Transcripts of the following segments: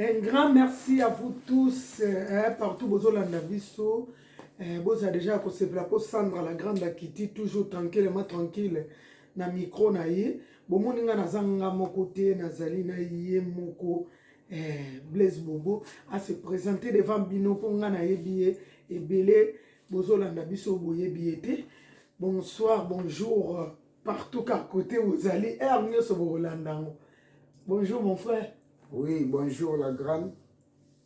Un grand merci à vous tous eh, partout bozolanda biso eh, boza deja ya kosepela mpo sandra la grande akiti toujours tranquillement tranquille na micro na ye bomoni ngai naza nga moko te nazali na ye moko eh, blaise bobo ase présente devant bino mpo ngai nayebi ye ebele bozolanda biso boyebi ye te bonsoir bonjour partout kar kote bozali heure nyonso bokolanda yango bonjour mon frère Oui, bonjour la grande.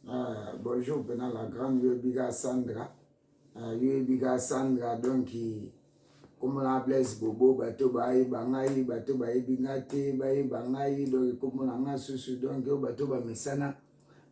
Uh, bonjour pena la grande yoyebiga Sandra. Uh, ah, yoyebiga Sandra donc komona Blaise Bobo bato bayeba ngai bato bayebi ngai te bayeba ngai donc komona ngai susu donc oyo bato bamesana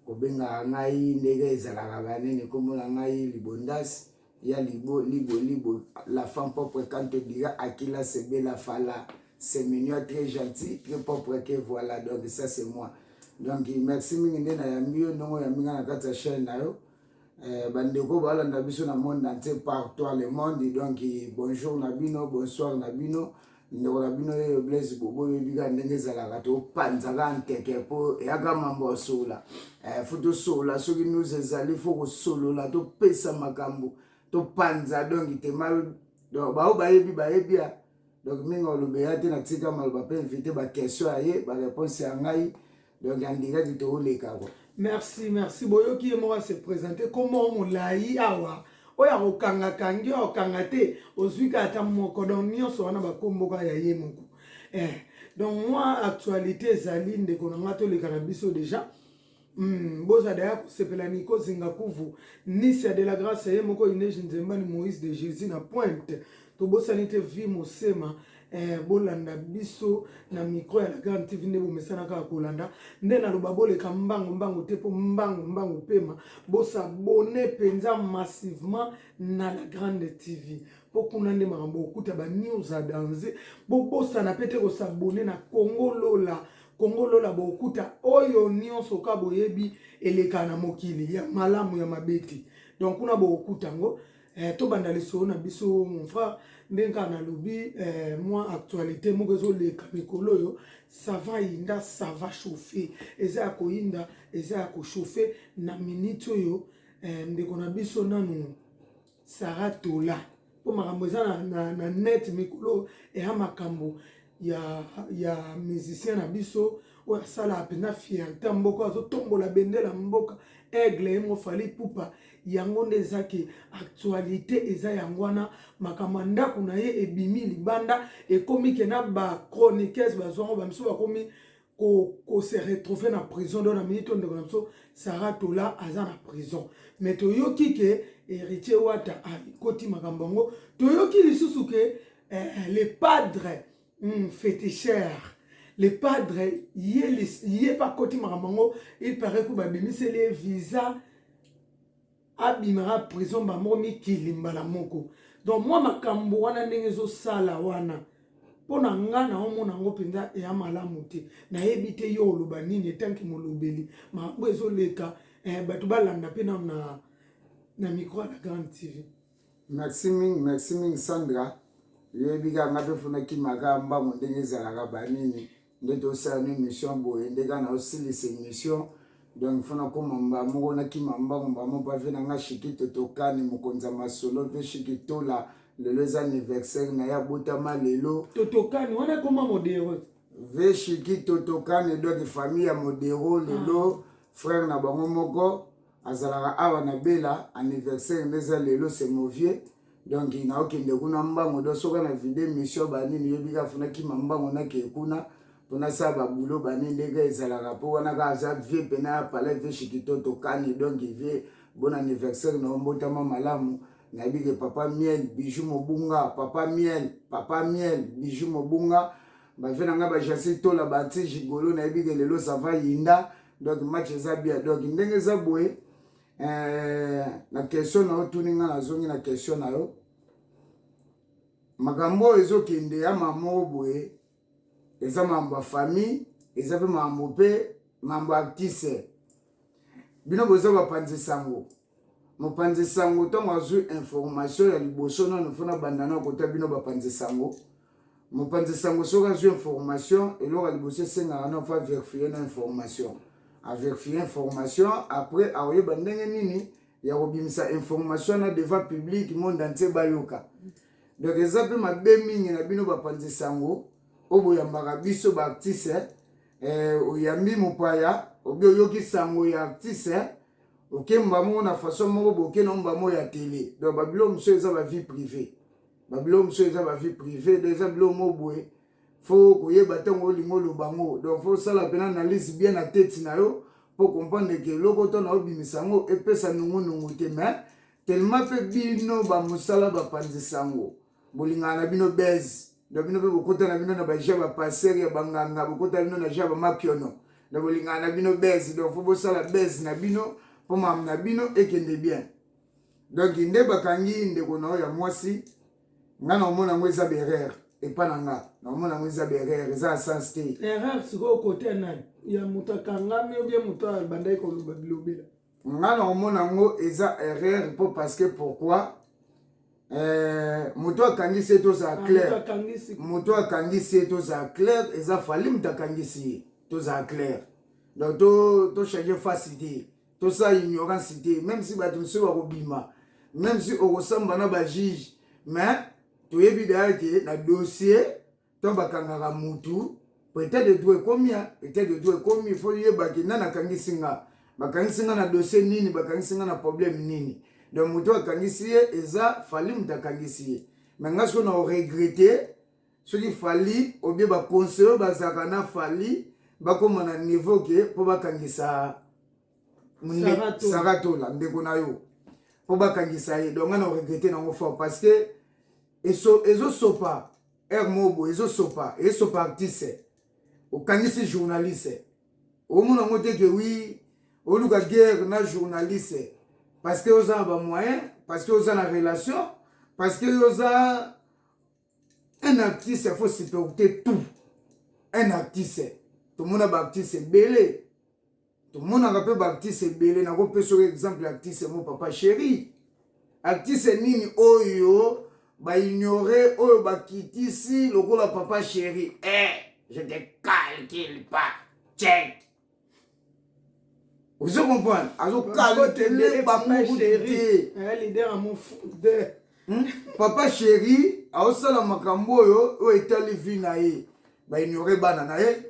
kobengaka ngai ndenge ezalaka banene komona ngai libondasi ya libo libo libo la femme propre quand te dira akila sebe la fala c'est mignon très gentil très propre que voilà donc ça c'est moi donc merci mingi nde nayambi yo ndongo oyambi nga na kati ya chaîne na yo eh, bandeko balanda biso na monde entier par toi le monde donc bonjour na bino bonsoir na bino ndeko na bino ye blaise bobo oyebi kaka ndenge ezalaka topanzaka nteke mpo eyaka mambo ya solola eh, fo tosolola soki news ezali fo kosolola topesa makambo topanza donki te bao bayebi bayebi ya donc mingi olobeya te natika maloba mpe invite baquestion ya ye bareponse ya ngai donc andingaki tooleka kwa merci merci boyoki ye moko ase présente kombo molai awa oyo akokanga kangi oyo akokanga te ozwi kaka ata moko donc nyonso wana bakombo kaka ya ye moko eh. donc mwa actualité ezali ndeko na ngai toleka na biso deja Mm, boza daya kosepela niko zinga kuvu nisia de la grâce ye moko ineji nzembani moïse de jésus na pointe tobosani te vie mosema eh, bolanda biso na micro ya la grande tv nde bomesana kaka kolanda nde naloba boleka mbango mbango te mpo mbango mbango pema bosabone mpenza massivement na la grande tv mpo kuna nde makambo okuta banews a danze bobosana mpe te kosabone na congo lola kongo lola bokuta oyo nyonso ka boyebi eleka na mokili ya malamu ya mabe te donc kuna bokuta yango Eh, tobanda lisolo na biso mon frère ndenge kaka nalobi eh, mwa actualité moko ezoleka mikolo oyo sava yinda sava chauffe eza ya koyinda eza ya kochauffe na miniti oyo eh, ndeko na biso nanu sara tola mpo makambo eza na, na, na net mikolo eya makambo ya, ya musicien na biso oyo asalaka mpenza fierte ya mboka azotombola bendela mboka aigle ye mofali pupa yango nde eza ke actualité eza yango wana makambo ya ndako na ye ebimi libanda ekomi ke na bachroniqueuse bazwango bamisu bakomi ko, ko se retrouver na prison donc na minute ndeko na biso Sarah Tola aza na prison mais toyoki ke héritier Wata akoti ah, makambo yango toyoki lisusu ke eh, le padre mm, féticheur le padre ye, ye pa akoti makambo yango il paraît ko babimiseli ye visa abimaka prison mbala moko mikili mbala moko donc mwa makambo wana ndenge ezosala wana mpo na nga naomona yango mpenza eya malamu te nayebi te yo oloba nini etanki molobeli makambo ezoleka eh, bato balanda mpe nano na, na micro ya la grande tv merci mingi merci mingi sandra yoyebi kaka nga mpe funa kimaka mbango ndenge ezalaka banini nde tosala no émission boye nde kaka naosilisa émission donc fo nakoma mbaa moko nakima mbango mbaa moko mpa ve na nga shikito tokani mokonzi ya masolo mpe shikitola lelo eza anniversaire na ye abotama lelo totokani wana ekoma modero ve shikito tokani donc famille ya modero lelo ah. frère na bango moko azalaka awa na bela anniversaire nde eza lelo se movie donc naokende kuna mbango do soki na vide mission banini yobi kaka funa kima mbango nakee kuna mpona sa babulo bani ndenge ezalaka mpo wana kaka aza vie mpena ya palais vie shikitoto kani donc vie bon anniversaire na ombotama malamu nayebi ke papa miel bijou mobunga papa miel papa miel bijou mobunga ba vie na nga ba Jacil Tola ba anti gigolo na yebi ke lelo ça va yinda donc match eza bien donc ndenge eza boye eh, na question na yo tuni nga nazongi na question na yo makambo oyo ezokende ya mamo boye eza makambo ya famille eza mpe makambo mpe makambo ya artiste bino boza bapanzi sango mopanzi sango ntango azwi information ya liboso nano mpo nabanda nao kota bino bapanzi sango mopanzi sango soki azwi information eloko ya liboso esengaka nao mpo averifie na information averifie information après akoyeba ndenge nini ya kobimisa information na devant public monde entier bayoka donc eza mpe mabe mingi na bino bapanzi sango oyo boyambaka biso baartiste eh, oyambi mopaya obi oyoki sango ya artiste oke mbamo na façon moko boke na mbamo ya tele donc babilo mosusu eza ba vie privée babilo mosusu eza ba vie privée donc eza bilo mo boye fo koyeba ntango olingi oloba ngo donc fo osala mpena analyse bien na tete na yo mpo comprendre ke eloko oto na obimisa yango epesa nungunungu te mais tellement mpe bino bamosala bapanzi sango bolingana na bino base na bino mpe bokota na bino na baja bapasere ya banganga bokota na bino na ja bamakiono na bolingana na bino base donc fo bosala base na bino mpo mama na bino ekende bien donc nde bakangi ndeko na oyo ya mwasi ngai na omona yango eza berere epa na nga na omona yango eza berere eza na sens te erreur sikoyo kote ya nani ya moto akangami obie moto abandaki koloba bilobela nga na omona yango eza erreur mpo parce que pourquoi eh, moto akangisi ye tozala ah, claire moto akangisi ye tozala claire eza fali moto akangisi ye tozala claire donc tochange to face te tosala ignorance te même si bato mosusu bakobima même si okosamba na bajuge mais toyebi daya ke na dossier to bakangaka mutu peut-être de tout ekomi peut-être de tout ekomi faut yebaki nani akangisi nga bakangisi nga na dossier nini bakangisi nga na problème nini donc moto akangisi ye eza fali moto akangisi ye me nga soki na oregrete soki fali obie baconseil oyo bazalaka na fali bakóma na niveau ke mpo bakangisa saratola ndeko na yo mpo bakangisa ye donc nga na oregrete nango fort parce que ezosopa heure moko boye ezosopa esopa artiste okangisi journaliste omona yango te ke wi oluka guerre na journaliste parce que oza na bamoyen parce que oza na relation parce que oza un artiste faut supporter tout un artiste tomona baartiste ebele tomonaka mpe baartiste ebele nakopesa oyo exemple ya artiste mo papa chéri artiste nini oyo baignore oyo bakitisi lokola papa chéri e eh, je te calcule pas check ozo comprendre azokalkele bango te hmm? papa chéri aosala makambo oyo oyo etali vi na ye baignore bana na ye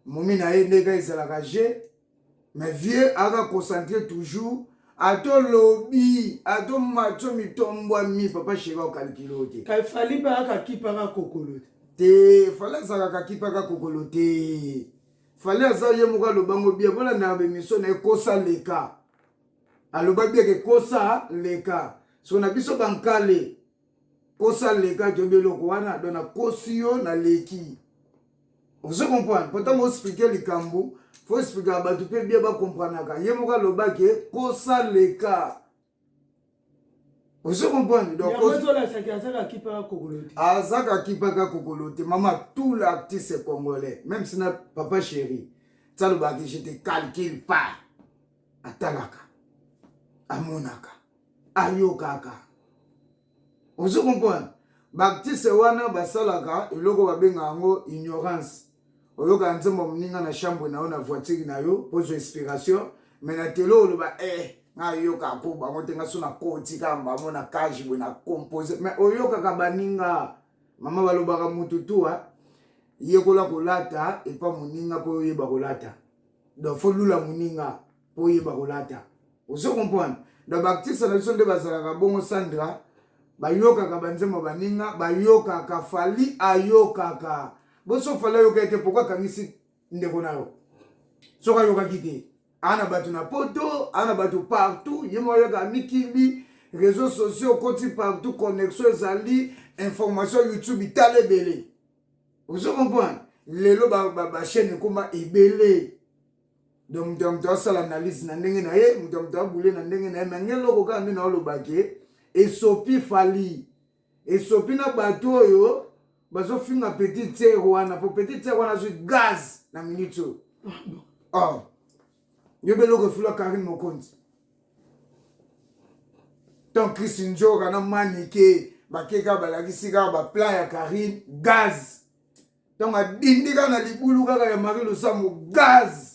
momi na ye ndenge ezalaka je mais vieux aka concentre toujours ata olobi ata omatso mitombwami papa sheri okalikili oyo te kasi fali mpe akakipaka kokolo te te fali azalaka akipaka kokolo te fali aza ye moko alobango bia mpona na bemission na ye kosa leka aloba bieke kosa leka so na biso bankale kosa lekaki obi eloko wana don nakosi yo naleki ozo comprendre po ntango osplike likambo fo esplikaka bato mpe bie bakompranaka ye moko alobaki kosa leka ozo comprendre azaka akipaka kokolo te mama tout l'artiste congolais même sina papa chéri salobaki je te calcule pas atalaka amonaka ayokaka ozo comprendre baptiste wana basalaka eloko babengaka yango ignorance oyoka nzembo moninga na chambre na yo na voiture na yo pozwa inspiration me na telo oloba e eh, nayoka mpo bango te nga so nakoti kaka bango na cage boye na compose me oyokaka baninga mama balobaka motu tua yekola kolata epa moninga mpo oyeba kolata donc fo lula muninga po oyeba kolata ozo comprendre donc baartiste na biso nde bazalaka bongo sandra bayokaka banzembo baninga bayokaka fali ayokaka boso fali ayoka ete poko akangisi ndeko na yo soki ayokaki te aa na bato na poto aa na bato partout ye moko ayoka amikimbi réseau sociaux okoti partout connexion ezali information youtube tala ebele ozo comprendre lelo bachaine ba, ba ekoma ebele donc moto ya moto asala analyse na ndenge na ye moto ya moto abule na ndenge na ye me nge eloko kaka nde naoloba ke esopi fali esopi na bato oyo bazofinga petit tiere wana po petit tiere wana azwi gaz na minute oyo ah oh. yo mpe eloko efula karine mokonzi tant chris njoka na manike bake kaka balakisi kaka baplan ya karine gaz ntango adindi kaka na libulu kaka ya marie losambo gaz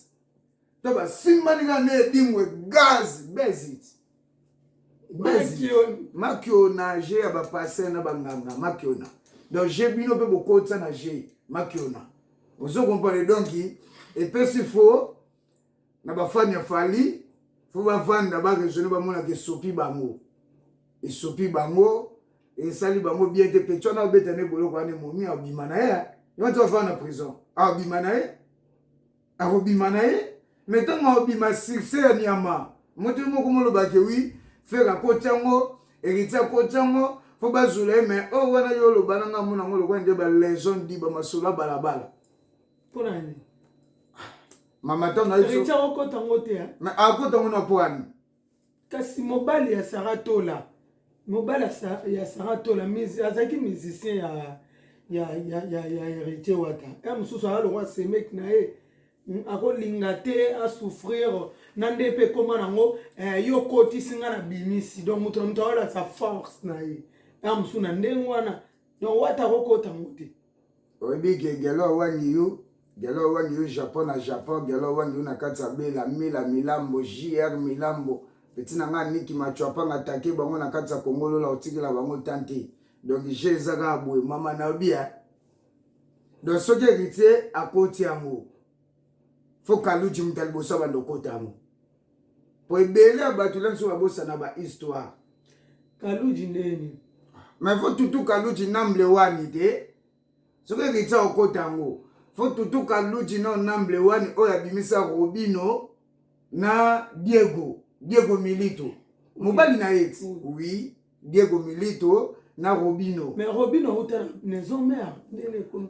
to basimbani kaka na edingwe gaz bezit makiona je ya bapasteur na banganga makiona donc je bino mpe bokotisa na je makiona ozo comprendre donc epesi fo na bafani ya fali fo bavanda baresone bamonaka esopi bango esopi bango esali bango bien te peti wana abeta nde boloko wana emomi abima na ye ye wana ti bafanda na prison abima na ye akobima na ye me ntango akobima succès ya nyama moto ye moko molobake wi fere akoti yango eriti akoti yango mpo bazula ye me oyo oh, wana yo oloba na ngai mona yango lokola nde baleson di bamasolo ya balabala mpo na nini mama ntango akota yango te akota yango na mpo wani kasi mobali ya sara tola mobali ya sara tola azalaki musicien ya ya ya ya ya héritier wata ya mosusu aza lokwa semeki na ye hmm, akolinga te asouffrir na nde mpe ekoma nango eh, yo kotisi ngai na bimisi donc moto na moto akolakisa force na ye ya mosusu na ndenge wana donc wata akokota yango te oyebi ke gelo awani yo gelo awani yo japon na japon gelo awani yo na kati ya bela mila milambo jr milambo peti na ngai niki macuapanga atake bango na kati ya kongolola otikela bango tan te donc je eza kaka boye mama na yobi ya donc soki héritier akoti yango fo kaluji moto ya liboso abanda okota yango po ebele ya bato lenso babosana ba histoire kaluji neni mais fo tutu kaluji namble wani te soki ekitisa okota yango fo tutu kaluji no namble wani oyo abimisa robino na diego diego milito mobali na ye ti oui diego milito na robino mais robino auta maison mère ndele ekomi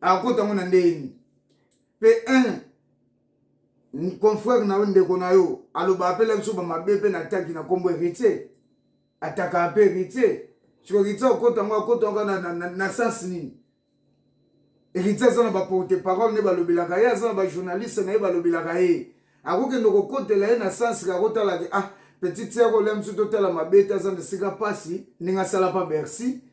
akota yango na ndenge nini mpe un confrère na yo ndeko na yo aloba apela biso bamabe mpe na taki na nkombo heritier ataka mpe heritier siko heritier akota yango akota yango na, na, na, na sens nini heritier aza na baporte parole nde balobelaka ye aza na bajournaliste na ye balobelaka ye akokende kokotela ye na sens kakotalaki ah petite sere olia biso totala mabe te aza na esika mpasi ndenge asala mpa bercy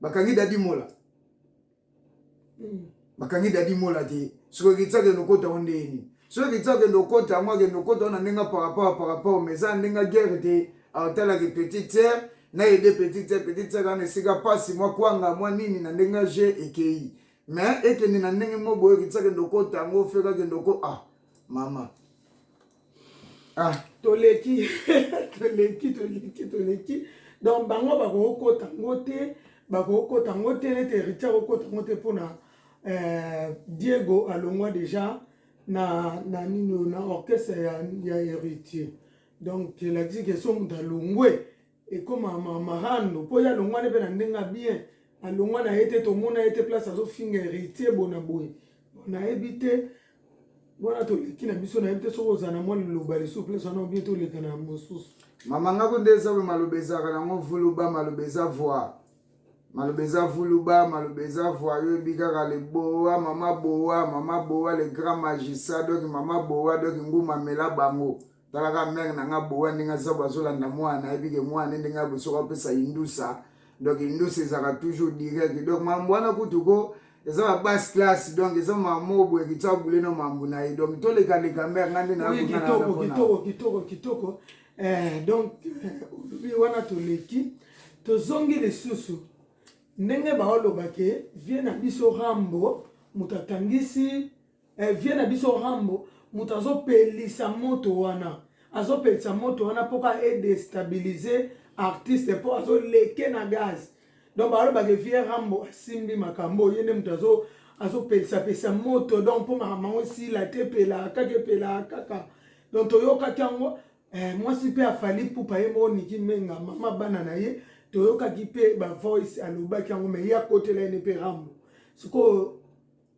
bakangi dadi mola hmm. bakangi dadi mola te soki okitisa akende okota yango ndenge nini soki okitisa akende okota yango akende okota wana ndenge par rapport par rapport mais eza ndenge guerre te aotalaki petite sœur na aide petite sœur petite sœur wana esika mpasi mwa kwanga mwa nini na ndenge je ekei mais ekende na ndenge moko boye okitisa akende okota yango fekakende oko ah mama ah toleki toleki toleki toleki donc bango bakokota ngo te bakokota ngo te nete heritier akokota ngo te mpona euh, diego alongwa déjà na na nini na orchestre ya, ya héritier donc elakisi ke so moto alongwe ekoma marando mpo ye alongwani mpe na ndenge ya bien alongwa na ye te tomona ye te place azofinga heritier bona boye nayebi te wana toleki na biso nayebi te soki ozala na mwa liloba lisusu place wana obie toleka na mosusu mama ngako nde eza oyo maloba ezalaka nango vuluba maloba eza voi maloba eza vuluba maloba eza voi oyebi kaka le boa mama boa mama boa le grand magisa donk mama boa donk nguma mela bango talaka mère na nga boa ndenge aza bo azolanda mwana ayebi ke mwana ndenge ya bosoki apesa indusa donc indusa ezalaka toujours direct donc mambo wana kutu ko eza ba basse classe donc eza mamo boye kitsa bule na mambo na ye donc tolekaleka mère nga nde nakitoko kitoko kitoko kitoko eh, donc olobi eh, wana toleki tozongi lisusu ndenge baolobake vie na biso rambo moto atangisi eh, vie na biso rambo moto azopelisa moto wana azopelisa moto wana mpo ka edestabilize artiste mpo azoleke na gaz donc balobaka vie rambo asimbi makambo ye nde moto azo azopelisapelisa moto donc mpo makambo yango esila te epelaka kaka epelaka kaka donc toyokaki yango eh, mwasi mpe afali pupa ye moko niki menga mama bana na ye toyokaki mpe bavoice alobaki yango me ye akotela ye ne mpe rambo sikoyo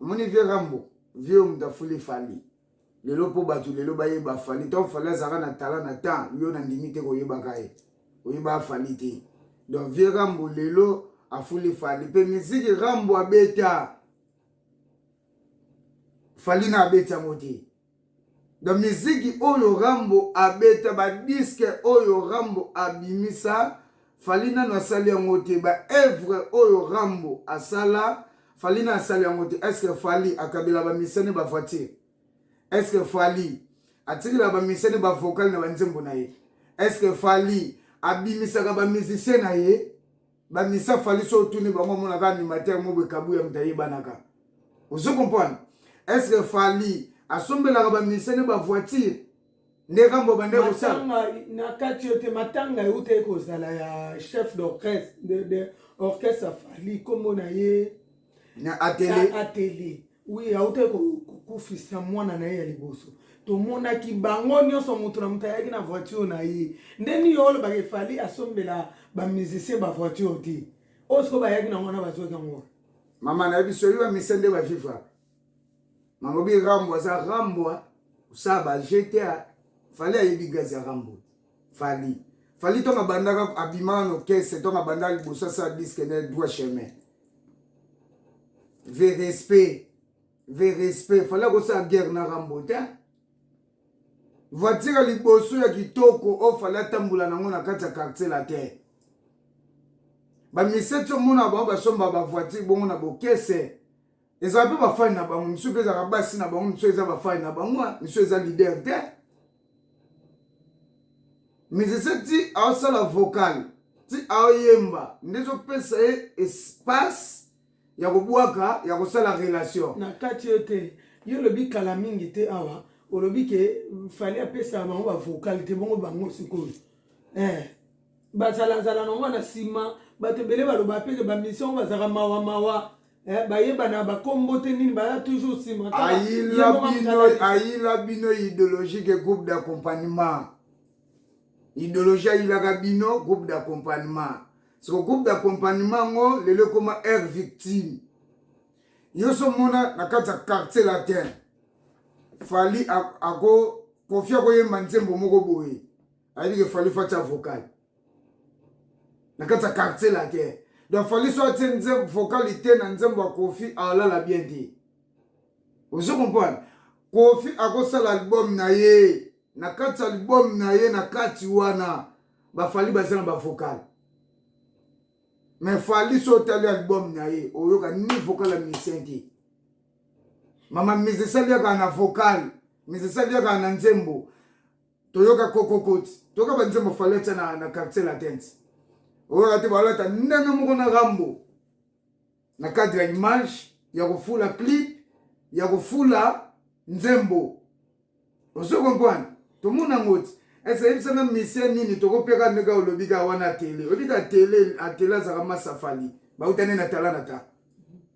omoni vie rambo vie oyo moto afuli fali lelo mpo bato lelo bayeba fali ntango fali azalaka na tala na temps yo na ndimi te koyebaka ye oyeba fali te donc vie rambo lelo afuli fali mpe miziki rambo abeta fali na abeti yango te Na miziki oyo Rambo abeta, ba disques oyo Rambo abimisa, Fally nanu asali yango te. Ba œuvres oyo Rambo asala, Fally nanu asali yango te. Est-ce que Fally akabela ba musiciens ne ba voitures? Est-ce que Fally atikela ba musiciens ne ba vocales na ba nzembo na ye? Est-ce que Fally abimisaka ba musiciens na ye? ba misa fali so otuni bango amonaka animateur mobo ekabu ya moto ayebanaka ozo comprendre est ce que fali asombelaka ba misa ne ba voiture nde kambo bande kosala na kati yo te matanga euta ekozala ya chef d'orchestre de, de orchestre fali kombo na ye na atele na atele oui autaki kokufisa mwana na ye ya liboso tomonaki bango nyonso moto na moto ayaki na voiture na ye nde nini olobaka efali asombela bamusicien bavoiture te oyo sikoyo bayaki nango wana bazwaki yango mama nayebi soki bamisa nde bavivra malobi rambo aza rambo osala ba gta fali ayebi gazi ya rambo fali fali ntongo abandaka abimaka na orchestre ntongo abandaka liboso asala diske na droit chemin ve respect ve respect fali akosala guerre na rambo te voiture ya liboso ya kitoko oyo oh, fali atambola nango na kati ya quartier latin bamiseti omona bango basomba bavoiture bongo na bokese ezala mpe bafani na bango misu mpe ezalaka basi na bango misu eza bafani na bango misu eza lider te musicien ti aosala vocal ti aoyemba nde ezopesa ye espace ya kobwaka ya kosala relation na kati yo te yo olobi kala mingi te awa olobi ke fali apesaka bango bavocal te bongo bango sikoyo eh. bazalazala nango na nsima bato ebele baloba mpe bamission bazalaka mawa mawa Eh, bayebana bakombo te nini baza toujours nsima ayila bino idéologique groupe d'accompagnement idéologie ayilaka bino groupe d'accompagnement soko groupe d'accompagnement yango lelo ekoma aire victime yo so mona na kati ya quartier latin fali ako kofi akoyemba nzembo moko boye ayebike fali fati avocal na kati ya quartier latin donc fali so atie nzembo vocalité na nzembo ya kofi alala bien te ozo comprendre kofi akosala album na ye na kati ya album na ye na kati wana bafali baza na bavokale me fali so otali album na ye oyoka ni vokale ya musicien te mama mise esali yaka na vokale mise esali yaka na nzembo toyoka kokokoti toyoka banzembo fali atya na, na quartier latente oyoka te balata ndenge moko na rambo na cadre ya image ya kofula clip ya kofula nzembo ozo comprendre tomona yango ti ese yebisanga misie nini tokopeka ndenge olobi kaka wana atele oyebi ka atele atele azalaka masafali bautani na tala na ta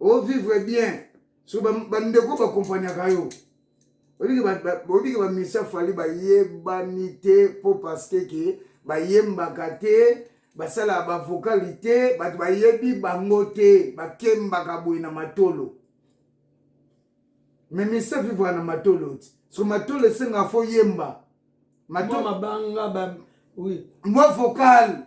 o vivre bien so bandeko bakompanyaka yo oyebiki bamisa fali bayebani te mpo parceke ke bayembaka te basalaka bavokali te bato bayebi bango te bakembaka boye na matolo me misa vivaka na matolo ti so matolo esengaka fo yemba mwa vocal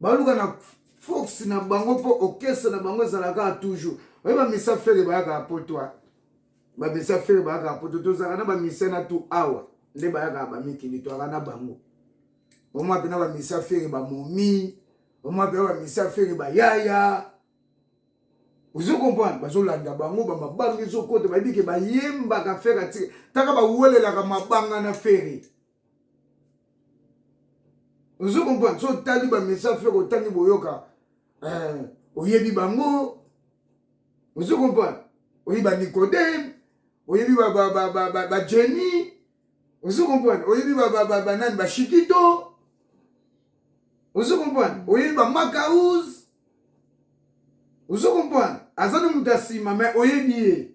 baluka na force na bango mpo orchestre na bango ezala kaka toujours oye bamisa fere bayaka ya poto a bamisa fere bayaka ya poto tozalaka na bamisa na tu awa nde bayaka bamikili toyaka na bango omwa mpena bamisa fere bamomi omwa mpena bamisa fere bayaya ozo comprendre bazolanda bango bamabanga ezokota bayebi ke bayembaka fere atike taka bawelelaka mabanga na fere ozo comprendre so otali bamessage feke otangi boyoka eh, oyebi bango ozo comprendre oyebi banicodeme oyebi bajeni ozo comprendre oyebi banani bashikito ozo comprendre oyebi bamakaus ozo comprendre aza na moto ya nsima mai oyebi ye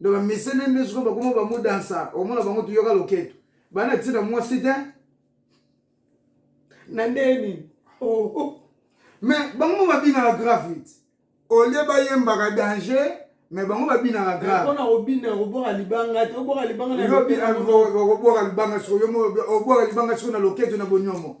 donc bamesene nde sikoyo bakoma bamodansa omona bango toyoka loketo bana ti na mwasi te na ndenge nini oh, oh. mais bango babinaka gravite olie bayembaka danger mais bango babinaka gravepona obina kobwaka libanga te obwaka libanga okobwaka libanga sikoyo obwaka libanga sikoyo na loketo na bonyomo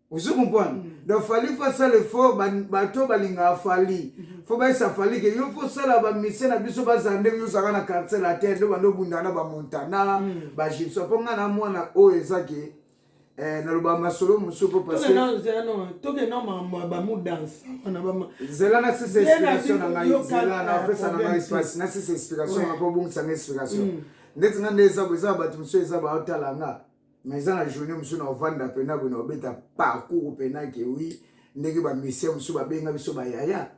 ozo comprendre mm -hmm. donc fali fo asala effort bato balingaka fali mm -hmm. fo bayesa fali ke yo fo osala bamisie na biso bazala ndenge yo ozalaka na quartier latin nde bando obundaka na bamontana mm -hmm. bagipsa mpo ngai na mwana oyo eza ke eh, naloba masolo mosusu mpo pasekokenda mambo ya bamudanse zela na sisa explication na ngai zela na opesa na ngai espace na sisa explication na mpo obongisa ngai explication mm. ndeti ngai nde eza eza bato mosusu eza baotala ngai mais eza na journée mosusu na ovanda mpena boye na obeta parcours mpena ke wi ndenge bamisien mosusu babenga biso bayaya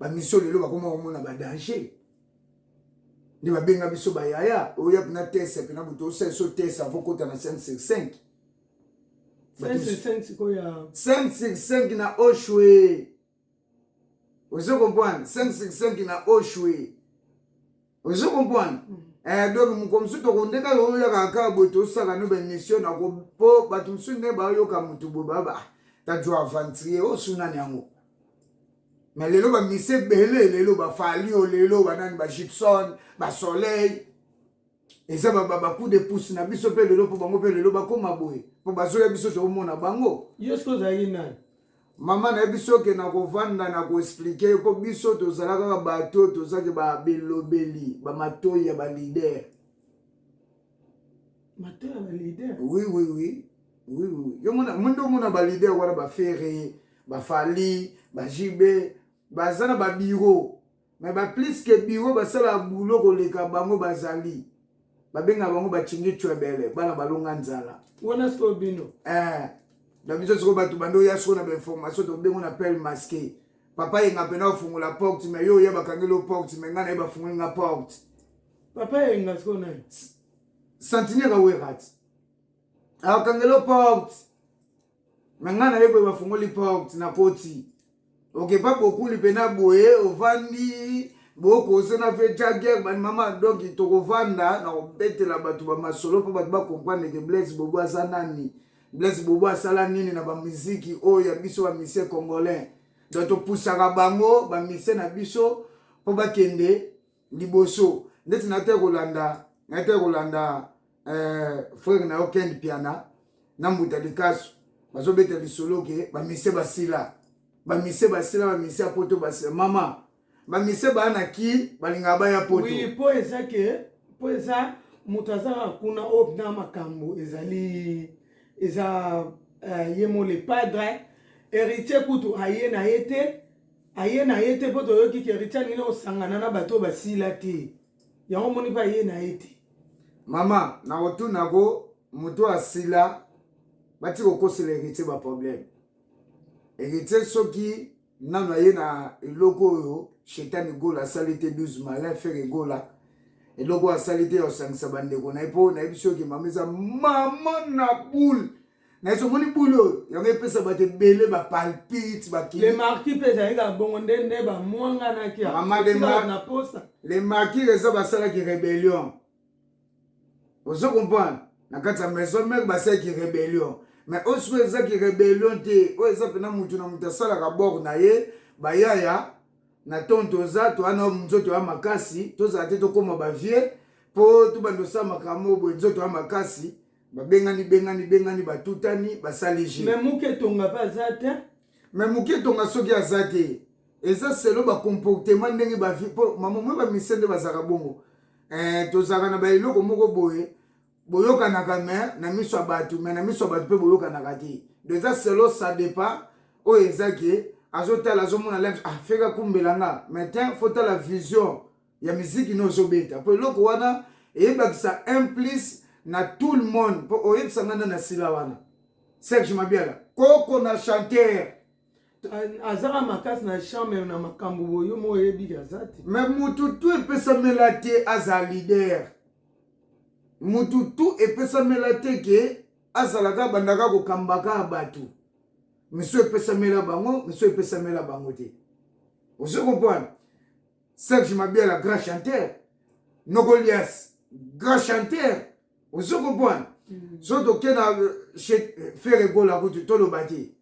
bamisio lelo bakoma komona badanger nde babenga biso bayaya oya mpena tese mpena moto osali so tese avo kota na 565 565 na oshwe ozo comprendre 565 na oshwe ozo comprendre mm. eh, donc mokolo mosusu tokondeka yo oyaka kaka boye tosaka no baémission nako mpo bato mosusu nde bayoka motu boye baba ah, tajua aventurier osunani oh, yango me lelo bamisi ebele lelo bafalio lelo banani bagibson basoleil eza babaku de pousse na biso mpe lelo mpo bango mpe lelo bakoma boye mpo bazoya biso tokomona bango yo soki ozalaki nani mama na ye biso oke na kovanda na koexplike mpo biso tozala kaka bato oyo tozaki babelobeli bamatoi ya balider matoi ya balider oui oui oui oui oui yo mona monde omona balider wana bafere bafali bajibe baza na babiro mais ba plus que bureau basala boulot koleka bango bazali babenga bango bachingi chwebele bana balonga nzala wana sikoyo bino eh, na biso sikoyo bato bando ya sikoyo na bainformation tobengo na pele maske papa yenga mpena ofungola porte me yo oya bakangeli o porte me ngai naye bafungoli nga porte papa yenga sikoyo naye santinere werati akangeli o porte na ngai naye boye bafungoli porte na koti okepa bokuli mpena boye ovandi bokosona mpe jager bandimama donc tokovanda na kobetela bato bamasolo mpo bato bakomprendre ke blaise bobo aza nani blaise bobo asala nini na bamiziki oyo ya biso bamise congolais donc topusaka bango bamise na biso mpo bakende liboso ndeti nate kolanda nate kolanda eh, frere na yo ken piana na mbuta likasu bazobeta lisolo ke bamise basila bamise basila bamise ya poto basila mama bamise baa na ki balingaka baya poto oui, po eza ke po eza moto azalaka kuna oyo oh, na makambo ezali eza uh, ye mo le padre héritier kutu aye na ye te aye na ye te mpo toyoki ke richa alingi na kosangana na bato oyo basila te yango omoni mpe aye na ye te mama nakotunako moto asila bati kokosela heritier baproblème heritier soki nano aye na eloko oyo shetani gola asali te 12 malin fere gola eloko asali te ya kosangisa bandeko na ye mpo nayebi soki mama eza mama na boule na yesu omoni bule oyo yango epesa bato ebele bapalpite bakile marki mpe ezali kaka bongo nde nde bamwanganaki na posa le marki eza basalaki rebellion ozo comprendre na kati ya maison mare basalaki rebellion mais oyo sikoyo ezaki rebellion te oyo eza mpena motu na motu asalaka bor na ye bayaya na ntongo toza towana nzoto ya makasi tozala te tokóma bavie mpo tobanda osala makambo boye nzoto ya makasi babengani bengani bengani batutani basali je me muke tonga mpe aza te me muke tonga soki aza te eza selo bacomportement ndenge bavi mpo mamomoi bamise nde bazalaka bongo eh, tozalaka na baeloko moko boye boyokanaka me na miso ya bato me na miso ya bato mpe boyokanaka te do eza selo sa depa oyo eza ke azotala azomona lens afeka ah, kumbela nga me te fotala vision ya miziki no ozobeta mpo eloko wana eyebakisa un plus na tout le monde mpo oyebisa ngai na sila wana serge mabiala koko na chanteur azaka makasi na chambre na makambo boyo mo oyebi aza te me motu tu epesamela te aza lider motu tu epesamela te ke azalaka bandaka kokambaka bato misu epesamela bango misu epesamela bango te ozo comprendre Serge Mabiala grand chanteur Nogolias grand chanteur ozo comprendre mm. so toke na euh, chez euh, Ferre Gola kutu toloba te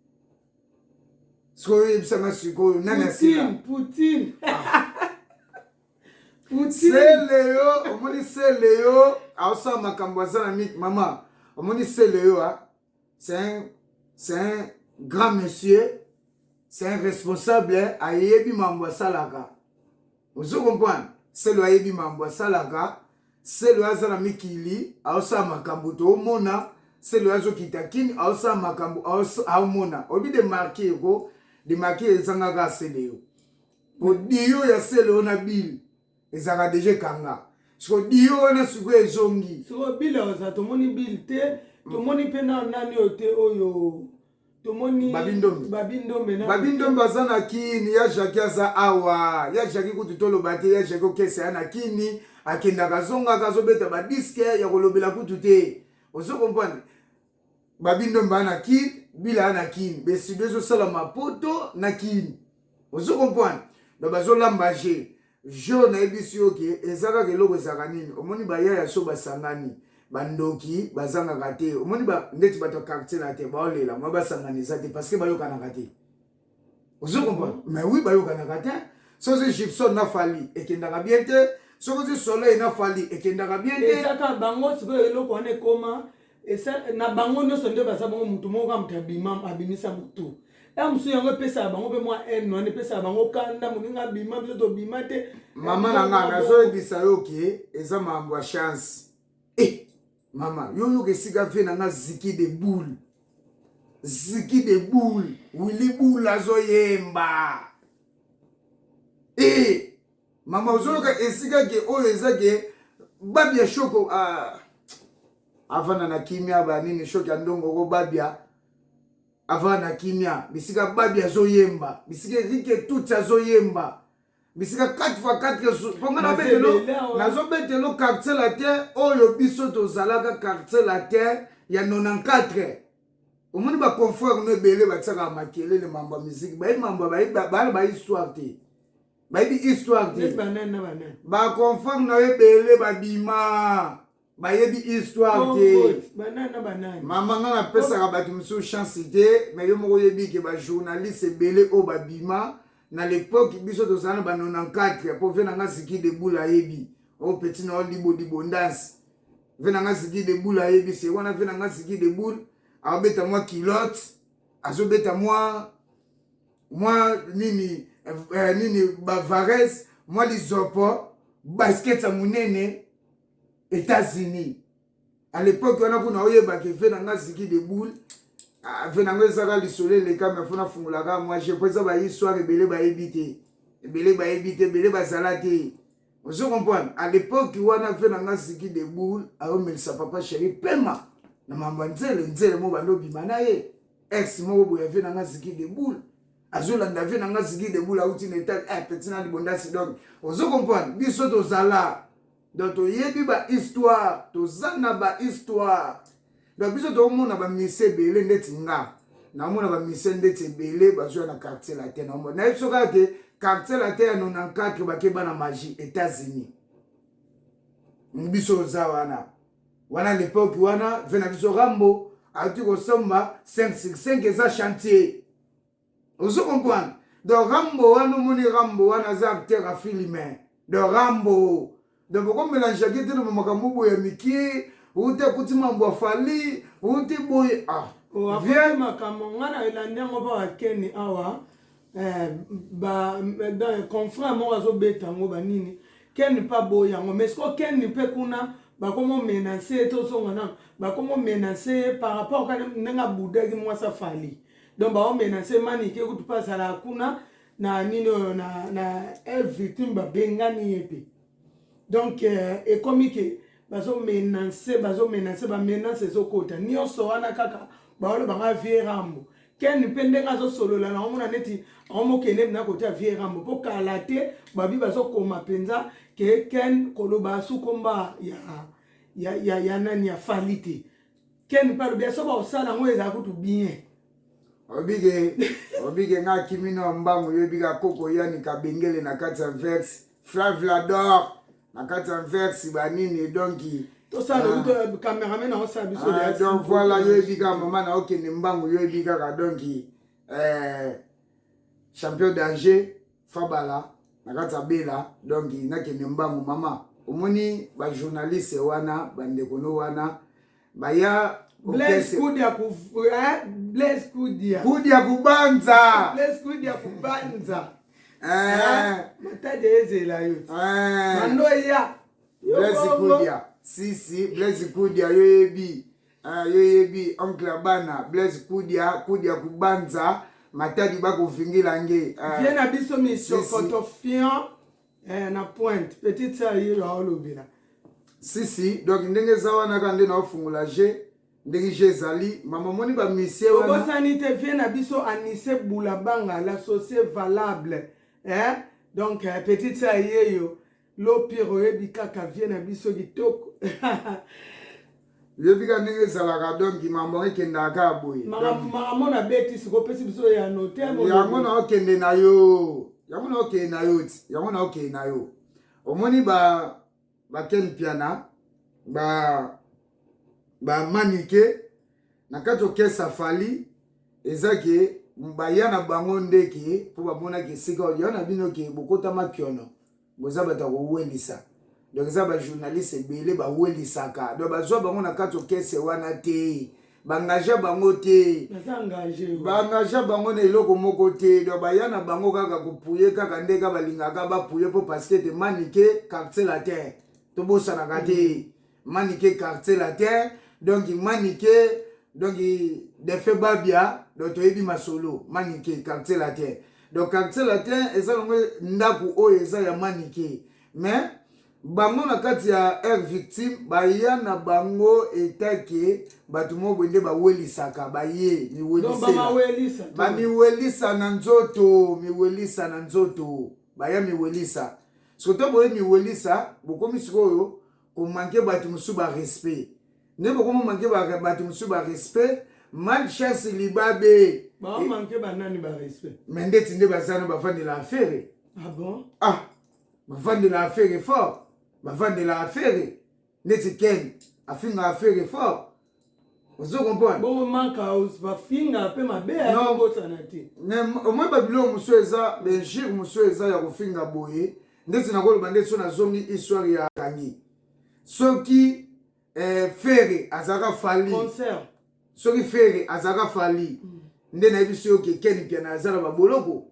sikoyo oyebisanga sikoyo nani asila Poutine ah. Poutine seleyo omoni seleyo aosala makambo aza na mik mama omoni seleyo a ah. c'est un, c'est un grand monsieur c'est un responsable ayebi mambo asalaka ozo comprendre selo ayebi mambo asalaka selo aza na mikili aosala makambo toomona selo azokita kini aosala makambo aomona oyebi de marke eko de marke ezangaka seleyo odiyo ya selo na bile ezalaka deja ekanga siko dio wana sikoyo ezongi sikoyo bile oza tomoni bile te mm. tomoni mpe na nani oyo te oyo tomoni babindombe aza na kini ya jaki aza awa ya jaki kutu toloba te ya jaki okesa ya na kini akendaka azongaka azobeta badiske ya kolobela kutu te ozo comprendre babindo mbaa na kin bilaa na kin besido ezosalama poto na kin ozo comprendre donc bazolamba je jo nayebisi yo ke eza kaka eloko ezalaka nini omoni baya ya so basangani bandoki bazangaka te omoni ba, ndeti bato ya quartier na te baolela mwa basangani eza te parceke bayokanaka te ozo comprendre mais oui bayokanaka te soki gibson na fali ekendaka bien te soki ozi soleil na fali ekendaka bien te ezaka bango sikoyo eloko wana ekoma na bango nyonso nde baza bango motu moko kaka moto abima abimisa motu ya mosusu yango epesaka bango mpe mwa haine wana epesaka bango kanda moninga abima biso tobima te mama na ngai nazoyebisa yo ke eza makambo ya chance eh, Mama, yo yoka esika vie na nga ziki de boule. Ziki de boule. Willy boule azo yemba. Eh, mama ozoyoka esika ke oyo eza ke babi ya shoko ah. avanda na kimia banini shoki ya ndongo ko babia avanda na kimia bisika babi azoyemba bisika erike tutsi azoyemba bisika 4 fois 4 yesu mpo ngai nabetelo nazobetelo quartier latin oyo biso tozalaka quartier latin ya 94 omoni baconfrere no ebele batiaka makelele mambo ya miziki bayebi mambo bana bayebi histoire te bayebi histoire te baconfrere na yo ebele babima bayebi histoire te mama nga napesaka bato mosusu chance te me yo moko oyebi ke bajournaliste ebele oyo babima na lepoke biso tozala na ba 94 mpo ve nanga ziki deboula ayebi o oh, petit nao libo libondasi ve nanga ziki deboula ayebi se wana ve nanga ziki deboule aobeta mwa kilote azobeta mwa mwa nini eh, nini bavares mwa lizopo basket ya monene Etats-Unis. À l'époque wana kuna oyeba ke ve na nga ziki de boule ah, ve na nga ezaka lisolo eleka me fona fungolaka mwa je po eza ba histoire ebele bayebi te ebele bayebi te ebele bazala te ozo comprendre à l'époque wana ve na nga ziki de boule aomelisa papa chéri pema na mambo ya nzele nzele mo bando obima na ye ex moko boye ve na nga ziki de boule azolanda vie na nga zigi debula auti na etat eh, petit na libondasi donc ozo comprendre biso tozala donc toyebi ba histoire toza na ba histoire donc biso tokomona ba misie ebele ndeti nga namona ba misie ndeti ebele bazwa na quartier latin naomona nayebi so kaka te quartier latin ya 94 bakeba na magie états-unis biso oza wana wana lepoke wana ve na biso rambo auti kosomba 565 eza chantier ozo comprendre donc rambo wana omoni rambo wana aza acteur ya filme donc rambo donc bokomelangeake te loba makambo boye ya mikie uti akuti mambo ya fali uti boye ah oh, vie makambo ngai na elandi yango mpo akeni awa Eh, ba eh, confrère moko azobeta yango banini keni mpe aboyi yango mais siko keni mpe kuna bakomo menase ye tozonga nano bakomo menase ye par rapport kani ndenge abudaki mwasi afali donc bao menase manike kutu mpe azalaka kuna na nini oyo na, na el victime babengani ye mpe donc euh, ekomi ke bazomenase bazomenase bamenase ezokota nyonso wana kaka baoloba nga vie rambo ken mpe ndenge azosolola na omona neti aomokende na kote ya vie rambo mpo kala te babi bazokoma mpenza ke ken koloba sukomba ya, ya, ya, ya nani ya fali te ken mpe alobi soki bakosala yango ezala kutu bien obike obike nga akimi na mbangu yo ebika koko yani kabengele na kati ya verse flavlador na kati ya verse banini donki tosala ah. kutu euh, cameraman akosala biso ah, donc voilà yo ebika mama na okende mbangu yo ebikaka donki euh, champion danger fabala na kati ya bela donc nakende mbangu mama omoni bajournaliste wana bandeko no wana baya Blaise Kudia ku eh Blaise Kudia Kudia kubanza Blaise Kudia kubanza eh mataje ezela yo eh mando ya Blaise Kudia si si Blaise Kudia yo yebi Ah, yo yebi oncle ya bana Blaise Kudia Kudia Kubanza Matadi bakovingila nge ah. vie na biso misokotofiant eh, na pointe petite sœur yelo aolobela sisi donc ndenge eza wana kaka nde naofungola je ndenge je ezali mama omoni bamisie obosani te vie na biso anise bulabanga la socie valable eh? donc eh, petite sœur yeyo Lopir oyebi kaka vie na biso kitoko yobi ka ndenge ezalaka donc mambo ekendaka kaka boye makambo na beti siko opesi biso ya note yango na okende na yo yango na okende na yo ti yango na okende na yo omoni ba baken piana ba bamanike na kati okesa fali eza ke baya na bango nde ke mpo bamonaki esika oyo na bino ke bokota makiono boza bato ya kowelisa donc eza bajournaliste ebele bawelisaka donc bazwa bango na kati okese wana te baengagea bango te baengagea bango na eloko moko te donc baya na bango kaka kopuye kaka nde ka balingaka bapuye mpo parceke te manike quartier latin tobosanaka te mm. manike quartier latin donc manike donc defe babia donc toyebi masolo manike quartier latin donc quartier latin eza nango ndako oyo eza ya manike mais bango na kati ya air victime baya na bango etake bato moko boye nde bawelisaka baye miwelisabamiwelisa na nzoto miwelisa na nzoto baya miwelisa soki to boye miwelisa bokomi sikoyo ko manquer batu mosusu ba respect nde bokomo manquer batu mosusu ba respect mal chance libabe bamanke banani ba respect mais ndeti nde bazana bavandela afere ah bon ah bavandela afere fort bavandela afere ndeti ken afinga afere fort ozo comprendre bongo manka house bafinga pe mabe akobosana te omoi babiloko mosusu eza benjure mosusu eza ya kofinga boye ndeti nakoloba ndeti so nazongi histoire ya kangi soki eh, fere azalaka fali soki fere azalaka fali mm. nde nayebisi yo ke ken piana aza na baboloko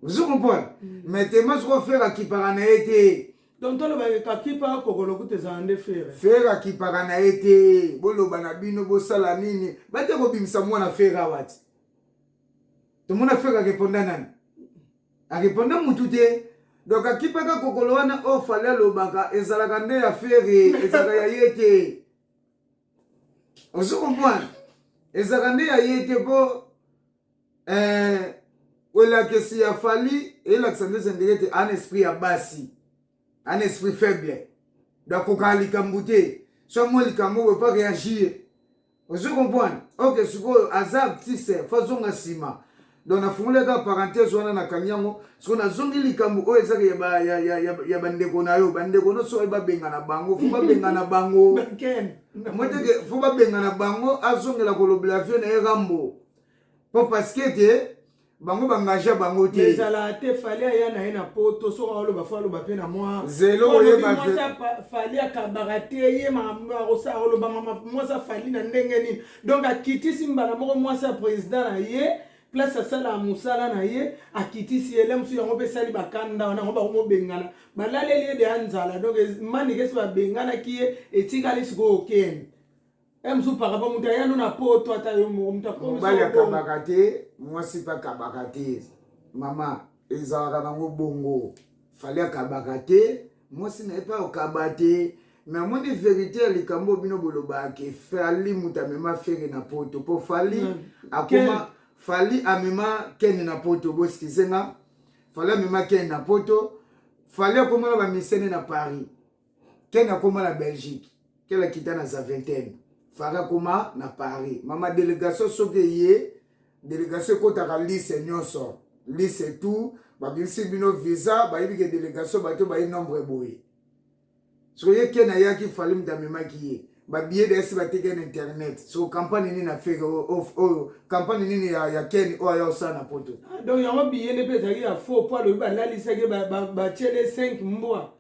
ozo comprendre mm. mais tema soko fere akipaka na ye te donc tolobaki kakipa kokolo kuta ezala nde fere fere akipaka na ye te boloba na bino bosala nini bate kobimisa mwana fere awa ti tomona fere areponda nani areponda mutu te donc akipaka kokolo wana oyo oh, fali alobaka ezalaka nde ya fere ezalaka ya ye te ozo comprendre ezalaka nde ya ye te mpo eh, elakisi ya fali elakisa nde zendeke ete an esprit ya basi an esprit faible dakokaka likambo te so amwa likambo oyo pa réagir ozo comprendre ok sikoyo aza artiste fazonga nsima donc nafungoli aka parenthèse wana nakangi yango siko nazongi likambo oyo ezaka ya, ba, ya, ya, ya, ya bandeko na yo bandeko nyonso oyo babengana bango fo babengana bango moteke fo babengana bango azongela kolobela vie na ye rambo mpo parceke te bango bangagea bango te ezala te fali aya na ye na poto soki aoloba fo aloba mpe na mwa zelo oyebafali akabaka te ye makambo akosala olobama mwasi afali na ndenge nini donc akitisi mbala moko mwasi ya president na ye place asalaka mosala na ye akitisi ye le mosusu yango mpe esali bakanda wana yango bakomobengana balaleli ye deya nzala donc manike esi babenganaki ye etikali sikoyo kende e mosusu pakapa moto ayano na poto ata yo moko moto akomobali akabaka te mwasi mpe akabaka te mama ezalaka nango bongo fali akabaka te mwasi na ye mpe akaba te me amoni verite ya likambo bino bolobaki fali moto amema fere na poto mpo fali mm. akoma fali amema kene na poto boskize nga fali amema kene na poto fali akoma na bamisene na paris kene akoma na belgique kele akita na zaventaine fari akoma na paris mama delegation soki eye delegation ekotaka lise nyonso lise tout babimisi bino visa bayebi ke delegation bato baye nombre boye soki ye ken ayaki fali moto amemaki ye babiye dayesi bateki na internet so kampagne nini afeke oyo kampagne nini ya, ya ken oyo aya osala na poto ah, donc yango biye nde mpe ezalaki ya faux mpo alobi balalisaki batiele 5 mbwa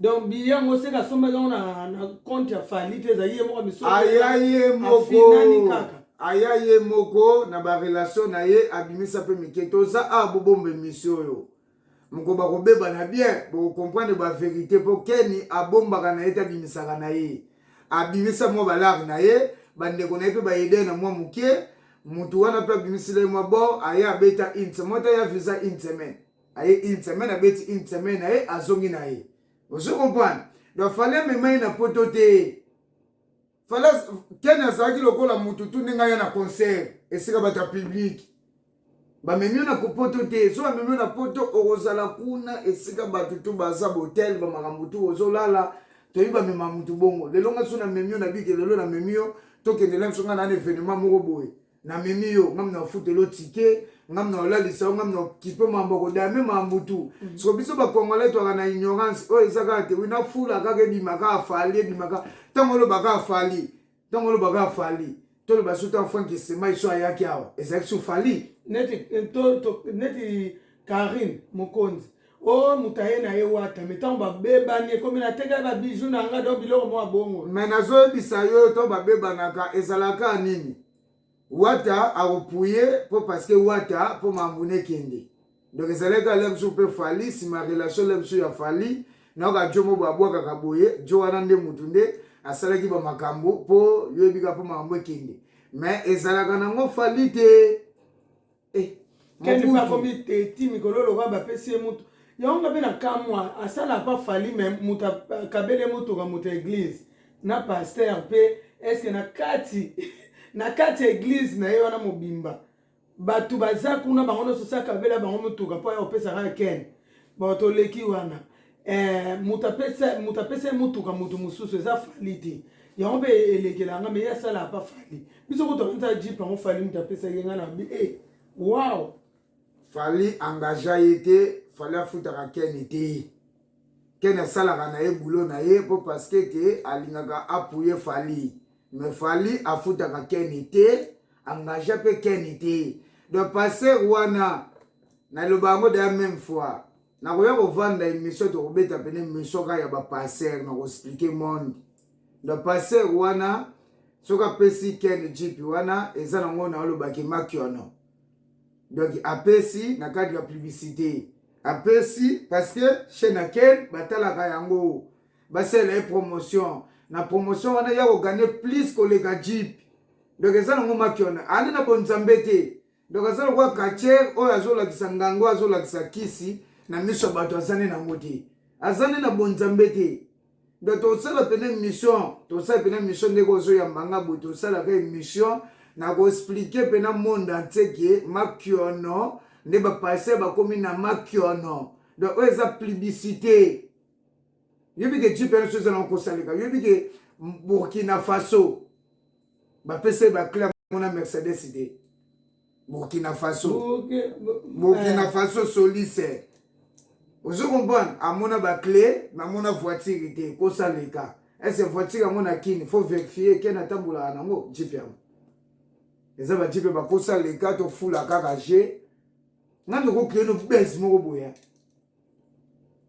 donc billet yango seke asombaki yango na compte ya fali te ezali ye moko misoaya ye mokoafinani kaka aya ye moko na barelation na ye abimisa mpe mike toza awa bobomba emisio oyo moko bakobeba na bien bokokomprendre baverité mpo keni abombaka na ye te abimisaka na ye abimisa mwa balare na ye bandeko na ye mpe baede na mwa moke motu wana mpe abimisila ye mwa bor aya abeta une semaine mota ya visa une semaine aye une semaine abeti une semaine na ye azongi na ye ozo comprendre donc fale amema ye na poto te fale kene azalaki lokola motu tu ndenge aya na concert esika bato ya publike bamemi yo na poto te so bamemi yo na poto okozala kuna esika bato tu baza botel bamakambo tu ozolala toyebi bamema motu bongo lelo nga so namemi yo na bike lelo namemi yo tokendela biso nga na na evenement moko boye na memi yo ngam na ofutelo tike ngam na olalisa yo ngam na okipe mambo kodaya me mambo tu mhm. soko biso bakongole twaka na ignorance oyo eza kaka te wina fula kaka ebima kaka fali ebima kaka ntango oloba kaka fali ntango oloba kaka fali toloba so ntango frank esema iso ayaki awa ezalaki so fali neti eh, neti karine mokonzi Oh, moto aye na ye wata me ntango babebani ekomi natekaki babiju na nga don biloko mwa bongo me nazoyebisa yo ntango babebanaka ezalaka nini wata akopuye mpo parceke wata mpo mambuna ekende donc ezalaki ale mosusu mpe fali nsima relation le mosusu ya fali nayoka jo mo babwakaka boye jo wana nde motu nde asalaki bamakambo mpo yoyebika mpo makambo ekende me ezalaka nango fali te Eh, kendi mpe akomi teti mikolo lokola bapesi ye motu yango nga mpe na kamwa asala pa fali me moto akabele motoka moto ya eglize na paster mpe eske na kati na kati ya eglize na ye wana mobimba bato baza kuna bango nyonso sakabela bango motuka mpo ya kopesaka ya ken bato oleki wana eh, moto apesa moto apesa ye motuka moto mosusu eza fali te yango mpe elekela nga me ye asala apa fali biso kutu akanisa jip yango fali moto apesa ye nga na bi e eh, wow fali engagea ye te fali afutaka kene te kene asalaka na ye bulo na ye mpo parceke ke alingaka apuye fali me fali afutaka kene te engagea mpe kene te donc passer wana naloba yango deya meme fois nakoya kovanda emission tokobeta pene emission kaka ya bapasser na koexplike monde na passer wana soki apesi ken jipi wana eza nango naolobaki makiono donc apesi na cadre ya publicité apesi parce que chez na ken batalaka yango basala ye promotion na promotion wana ya kogane plus koleka jipi donc eza nango makiono ande na bonzambe te Donc aza lokola katiere oyo azolakisa ngango azolakisa kisi na miso ya bato azani nango te azani na bonzambe te donc tosala mpena émission tosala mpena émission ndenge ozoyamba nga boye tosalaka émission na koexplike mpena monde entier ke makiono nde bapase bakomi na makiono donc oyo eza publicité yobi ke gpnso eza na kosaleka yobi ke burkina faso bapesa ye bacla yango na mercedes te burkina faso burkina eh. faso solise ozo comprendre amona baclé me amona voiture te kosa leka ese voiture yango na kini faut verifie ken atambolaka nango jipe yango eza bajipe bakosa leka tofula kaka je nga ndokokile no bese moko boya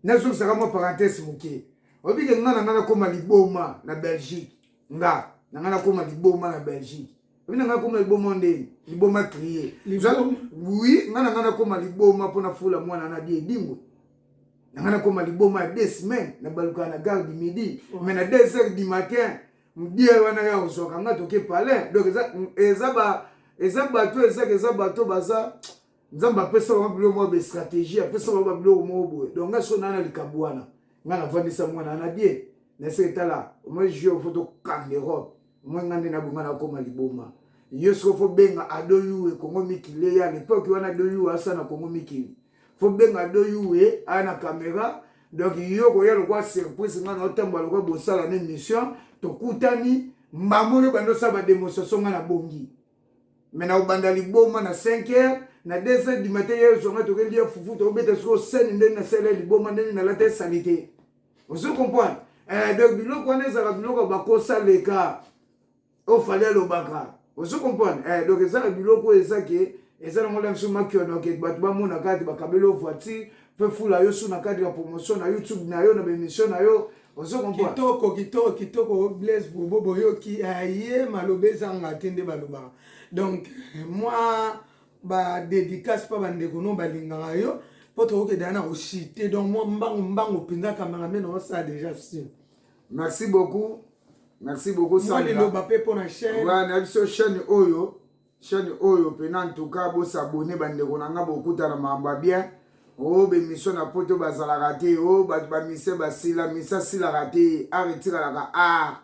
nazongisaka mwa parenthèse moke oyebi ke nga na nga nakóma liboma na belgique nga na nga nakóma liboma na belgique oyebi na nga nakóma liboma ndenge liboma trie wi nga na nga nakóma liboma mpo nafula mwana na die edingwe na nga nakóma liboma ya deux semaines nabalukaka na gare du midi mais na deux heures du matin die wana ya ozwaka nga toke palin donc eza bato ezaka eza bato baza nzambe apesa bango biloko moko ba stratégie apesa bango babiloko moko boye donc ngai soki naa na likambo wana ngai navandisa mwana na bie nase etala omoi jur fo tokanga europe omoi ngai nde nabonga nakoma liboma yo soki fo benga ado yuwe kongo mikili ya lepoke wana ado yuwe asa na kongo mikili fo benga ado yuwe aya na kamera donc yo koya lokwa surprise ngai naotambola lokwa bosala na émission tokutani mbamoni obanda osala bademonstration ngai nabongi me na obanda liboma na 5 heures na 2 heures du matin ye zonga tokendi ya fufu tokobeta sikoyo sene ndenge nasala ya liboma ndenge nalata esalite ozo comprendre eh, donc biloko wana ezalaka biloko bakosa leka ofali alobaka ozo comprendre eh, donc ezalaka biloko oyo eza ke eza nango la biso makionoke bato bamona kaka te bakabeli o voiture Pe fula yo sous na cadre ya promotion na YouTube na yo na ba emission na yo. Ozo comprendre? Kitoko kitoko kitoko Blaise Bobo boyoki aye maloba ezanga te nde balobaka. Donc moi ba dédicace pa ba ndeko no balingaka yo po tokoki dana na koshite donc moi mbangu mbangu penza cameraman na osa déjà sur. Merci beaucoup. Merci beaucoup Sandra. Moi liloba pe pona chaîne. Ouais, na biso chaîne oyo. chaîne oyo pena en tout cas bo s'abonner ba ndeko na nga bokuta na mamba bien oh be mission na poto bazalaka te oh ba ba mise basila mise asilaka te art etikalaka art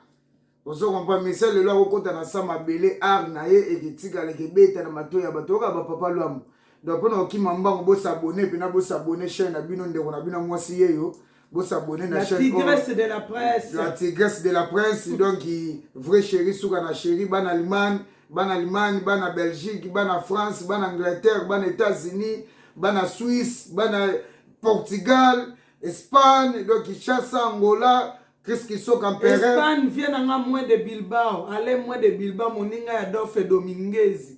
ozo comprendre mise lelo akokota na sa mabele art na ye eketikala ekebeta na mato ya bato oyoka bapapa lwamu donc mpona kokima mbango bosabone mpena bosabone chaine na bino ndeko na bino mwasi yeyo Bo s'abonner na chaîne. La tigresse de la presse. La tigresse de la presse. Donc, vrai chéri, souka na chéri, ban Allemagne, ban Allemagne, ban na Belgique, ban na France, ban Angleterre, ban États-Unis, ban na Suisse, ban na Portugal, Espagne, donc Kinshasa, Angola, Chris Kisoka Mpere. Espagne vient nanga moins de Bilbao. Allez moins de Bilbao, moninga ya Dolphe Dominguez.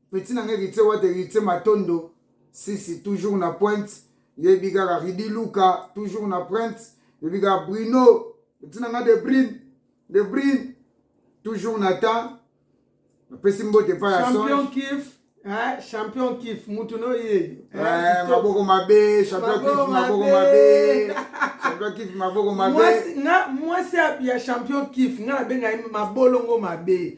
Petit na nga Heritier Wata Heritier Matondo Sisi toujours na pointe yebi kaka Ridi Luka toujours na pointe yebi kaka Bruno Petit na nga de Brune de Brune toujours na temps napesi mbote pa ya champion kif Eh, champion kif mutu no ye eh, maboko mabe champion kif maboko mabe champion kif maboko mabe nga mwasi ya champion kif nga nabenga ye mabolongo mabe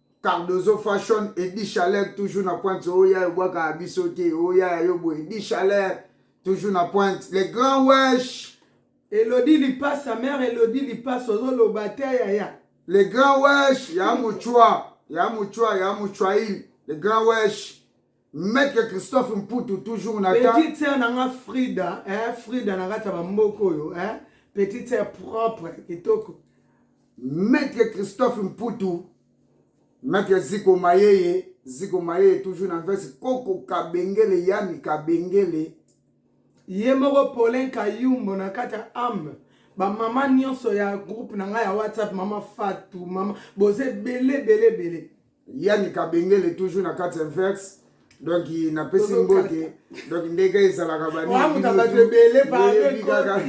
Cardozo Fashion, Eddie Chaleur toujours na pointe oya yo bwaka ya biso te oya yo bo Eddie Chaleur toujours na pointe le grand wesh Elodie Lipasa mère Elodie Lipasa ozoloba te yaya le grand wesh ya muchwa ya muchwa ya muchwail le grand wesh Maître Christophe Mputu toujours na ta. Petite sœur na nga Frida, hein, Frida na kata ba mboko oyo, hein. Petite sœur propre, kitoko. Maître Christophe Mputu, Maître Ziko Mayeye, Ziko Mayeye toujours na veste Koko Kabengele, Yami Kabengele. Ye moko Paulin Kayumbo na kata âme. Ba mama nyonso ya groupe na nga ya WhatsApp, mama Fatou, mama boze bele bele bele. Yani Kabengele toujours na kati inverse donc napesi mbote donc ndenge ezalaka baningibato ebele paekaka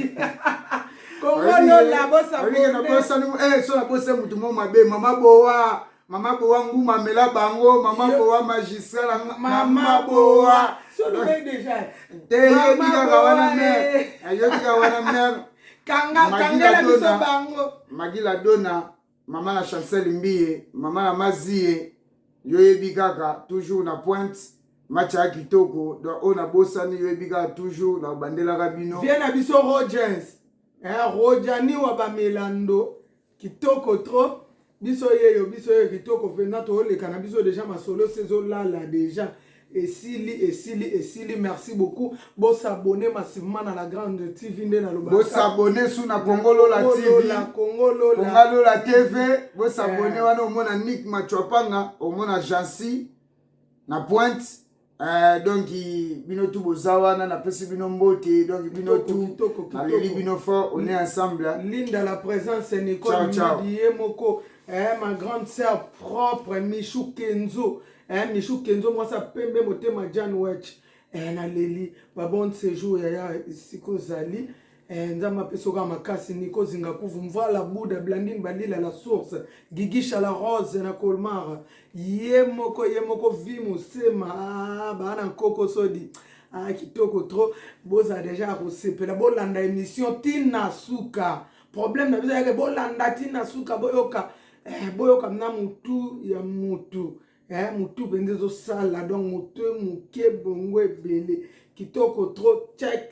so nabose motu mo mabe mama bowa mama bowa nguma mela bango mama bowa magistral mama bowa te yobi kaka wana mere ayobi kaka wana mere magila dona mama na chancel mbiye mama na maziye yoyebi kaka toujours na pointe match ya kitoko donc oyo nabosani yoyebi kaka toujours na bandelaka bino vie na biso rogers eh, rojani wa bamelando kitoko trop biso yeyo biso yeyo kitoko mpenza tooleka na biso deja masolo sezolala deja esili esili esili merci beaucoup bo s'abonner massivement na la grande tv nde naloba bo s'abonner sous na congo lola tv la congo lola congo lola tv bo s'abonner eh. wana omona nick machuapanga omona jansi na pointe eh, donc bino tu boza wana napesi bino mbote donc bino tu naleli bino fort on est ensemble linda la présence nicole midi ye moko eh, ma grande sœur propre michou kenzo eh, michou kenzo mwasi ya pembe motema jan wech eh, naleli babon sejour yaya esika ozali eh, nzambe apesa oka makasi niko zingakuvu mvala buda blandine balila la source gigisha la rose na colmar ye moko ye moko vi mosema ah, baana nkoko sodi ah, kitoko trop bozala deja ya kosepela bolanda émission tina suka problème na biso yake bolanda tina suka boyoka eh, boyoka na mutu ya mutu eh, mutu mpenza ezosala donc moto moke bongo ebele kitoko trop check